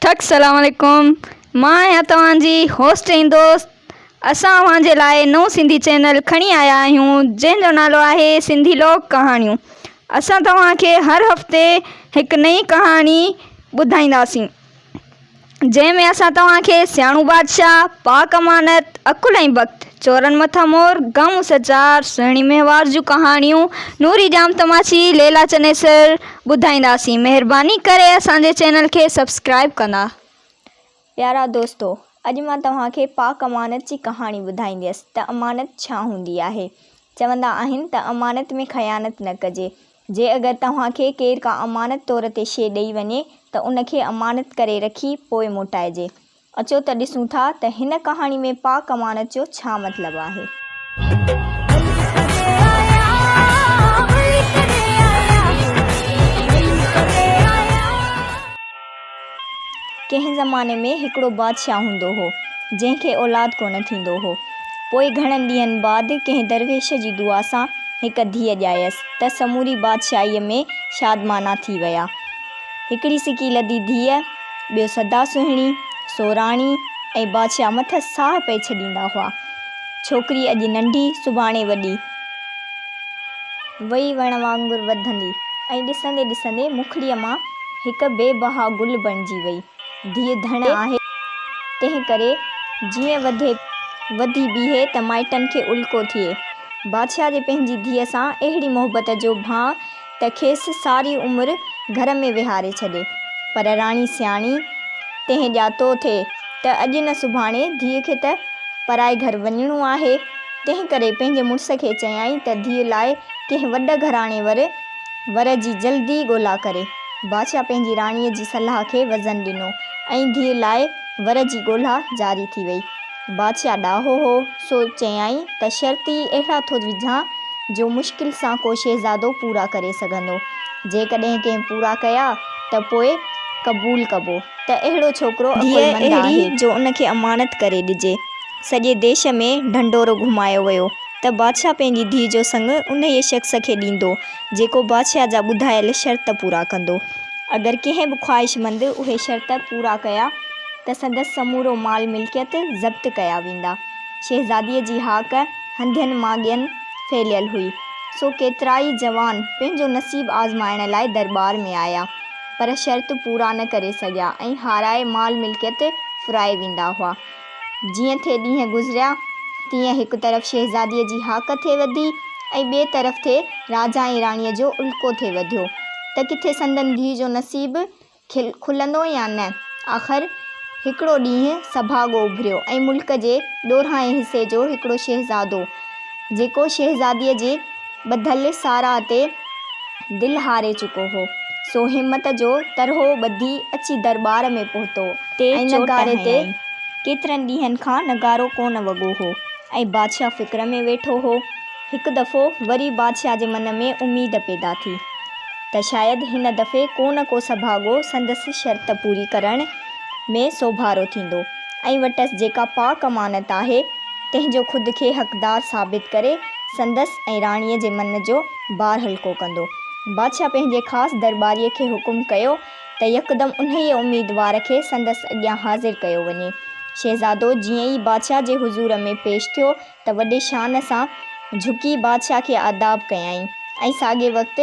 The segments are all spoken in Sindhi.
ٿڪ السلام عليڪم مان آهيان توهان جي هوسٽ ۽ دوست اسان اوهان جي لاء نئون سنڌي چينل کڻي آيا آهيون جنهن جو نالو آهي سنڌي لوڪ ڪهاڻيون اسان توهان کي هر هفتي هڪ نئين ڪهاڻي ٻڌائينداسين جنهن ۾ اسان توهان کي سياڻو بادشاهه پاڪ امانت عقل ۽ بخت چورن مٿا مور غم سچار سهڻي مهوار جون ڪهاڻيون نوري ڄام تماچي ليلا چنيسر ٻڌائينداسين مهرباني ڪري اسان جي چينل کي سبسڪرائيب ڪندا. پيارا دوستو! اڄ مان توهان کي پاڪ امانت جي ڪهاڻي ٻڌائينديس ته امانت ڇا هوندي آهي. چوندا آهن ته امانت ۾ خيانت نه ڪجي. جي اگر توهان کي ڪير ڪا امانت طور تي شيء ڏئي وڃي ته ان کي امانت ڪري رکي پوء موٽائجي. اچو ته ڏسون ٿا ته هن ڪهاڻي ۾ پاڪ امانت جو ڇا مطلب آهي. ڪنهن زماني ۾ هڪڙو بادشاهه هوندو هو، جنهن کي اولاد ڪونه ٿيندو هو. پوء گهڻن ڏينهن بعد ڪنهن درويش جي دعا سان هڪ ڌيء ڄايس ته سموري بادشاهيء ۾ شادمانا ٿي ويا. هڪڙي سڪي لڌي ڌيء. ٻيو سدا سهڻي، سوراڻي ۽ بادشاهه مٿس ساهه پئي ڇڏيندا هئا. ڇوڪري اڄ ننڍي سڀاڻي وڏي وئي وڻ وانگر وڌندي ۽ ڏسندي ڏسندي مکڙيء مان هڪ بي بها گل بڻجي وئي. ڌيء ڌڻ آهي، تنهن ڪري جيئن وڌي وڌي بيهي ته مائٽن کي الڪو ٿئي. بادشاهه جي پنهنجي ڌيء سان اهڙي محبت جو ڀانء ته کيس ساري عمر گهر ۾ ويهاري ڇڏي. پر راڻي سياڻي تنهن ڄاتو ٿي ته اڄ نه سڀاڻي ڌيء کي ته پرائي گهر وڃڻو آهي، تنهن ڪري پنهنجي مڙس کي چيائين ته ڌيء لاء ڪنهن وڏ گهراڻي ور ور جي جلدي ڳولا ڪري. بادشاهه پنهنجي راڻيء جي صلاح کي وزن ڏنو ۽ ڌيء لاء ور جي ڳولا جاري ٿي وئي. بادشاهه ڏاهو هو، سو چيائين ته شرط ئي اهڙا ٿو وجهان، جو مشڪل سان ڪو شهزادو پورا ڪري سگهندو. جيڪڏهن ڪنهن پورا ڪيا ته پوء قبول ڪبو ته اهڙو ڇوڪرو عقلمند آهي. ڌيء اهڙي جو ان کي امانت ڪري ڏجي. سڄي ديش ۾ ڍنڍورو گهمايو ويو ته بادشاهه پنهنجي ڌيء جو سڱ انهيء شخص کي ڏيندو، جيڪو بادشاهه جا ٻڌايل شرط پورا ڪندو. اگر ڪنهن به خواهشمند اهي شرط پورا ڪيا. ته سندس سمورو مال ملڪيت ضبط ڪيا ويندا. شهزاديء جي هاڪ هنڌين مان ڳين ڦهليل هئي، سو ڪيترائي جوان پنهنجو نصيب آزمائڻ لاء درٻار ۾ آيا، پر شرط پورا نه ڪري سگهيا ۽ هارائي مال ملڪيت ڦرائي ويندا هئا. جيئن ٿي ڏينهن گذريا، تيئن هڪ طرف شهزاديء جي هاڪ ٿي وڌي ۽ ٻئي طرف ٿي راجا ۽ راڻيء جو الڪو ٿي وڌيو، ته ڪٿي سندن ڌيء جو نصيب کلندو يا نه؟ آخر هڪڙو ڏينهن سڀاڳو اڀريو ۽ ملڪ جي ڏورانهين حصي جو هڪڙو شهزادو، جيڪو شهزاديء جي ٻڌل ساراهه تي دل هاري چڪو هو، سو همت جو ترهو ٻڌي اچي درٻار ۾ پهتو ۽ نغاري تي ڪيترن ڏينهن کان نغارو ڪونه وڳو هو ۽ بادشاهه فڪر ۾ ويٺو هو. هڪ دفعو وري بادشاهه جي من ۾ اميد پيدا ٿي. ته شايد هن دفعي ڪو نه ڪو سڀاڳو سندس شرط پوري ڪرڻ ۾ سوڀارو ٿيندو ۽ وٽس جيڪا پاڪ امانت آهي، تنهن جو خود کي حقدار ثابت ڪري، سندس ۽ راڻيء جي من جو بار هلڪو ڪندو. بادشاهه پنهنجي خاص درٻاريء کي حڪم ڪيو ته يڪدم انهيء اميدوار کي سندس اڳيان حاضر ڪيو وڃي. شهزادو جيئن ئي بادشاهه جي حضور ۾ پيش ٿيو، ته وڏي شان سان جهڪي بادشاهه کي آداب ڪيائين ۽ ساڳئي وقت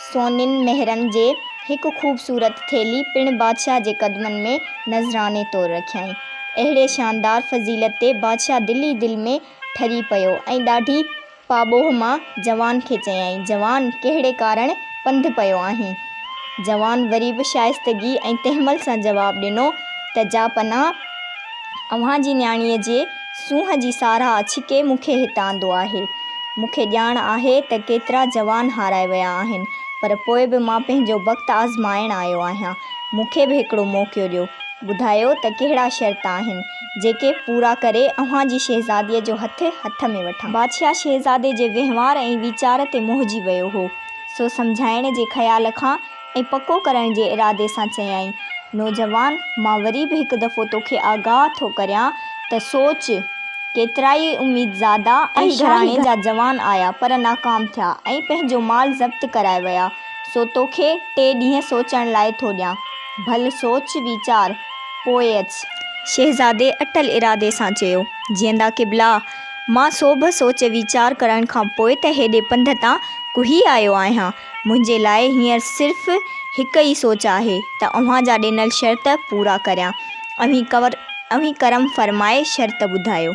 سونين مهرن جي هڪ خوبصورت ٿيلهي پڻ بادشاهه جي قدمن ۾ نذراني طور رکيائين. اهڙي شاندار فضيلت تي بادشاهه دل ئي دل ۾ ٺري پيو ۽ ڏاڍي پاٻوهه مان جوان کي چيائين، جوان! ڪهڙي ڪارڻ پنڌ پيو آهين؟ جوان وري به شائستگي ۽ تحمل سان جواب ڏنو ته جا پناهه اوهان جي نياڻيء جي سونهن جي ساراهه ڇڪي مون کي هت آندو آهي. مون کي ڄاڻ آهي ته ڪيترا جوان هارائي ويا آهن، پر پوء به مان پنهنجو بخت آزمائڻ آيو آهيان. مون کي به هڪڙو موقعو ڏيو. ٻڌايو ته ڪهڙا شرط آهن، جيڪي پورا ڪري اوهان جي شهزاديء جو هٿ، هٿ ۾ وٺان. بادشاهه شهزادي جي وهنوار ۽ ويچار تي موهجي ويو هو، سو سمجهائڻ جي خيال کان ۽ پڪو ڪرڻ جي ارادي سان چيائين، نوجوان، مان وري به هڪ دفعو توکي آگاهه ٿو ڪريان ته سوچ، ڪيترائي اميدزادا ۽ گهراڻي جا جوان آيا پر ناڪام ٿيا ۽ پنهنجو مال ضبط ڪرائي ويا، سو توکي ٽي ڏينهن سوچڻ لاء ٿو ڏيان، ڀل سوچ ويچار، پوء اچ. شهزادي اٽل ارادي سان چيو، جيئندا قبلا، مان سوڀ سوچ ويچار ڪرڻ کان پوء ته هيڏي پنڌ تان ڪهي آيو آهيان، منهنجي لاء هينئر صرف هڪ ئي سوچ آهي ته اوهان جا ڏنل شرط پورا ڪريان. اوهين ڪور اوهين ڪرم فرمائي شرط ٻڌايو.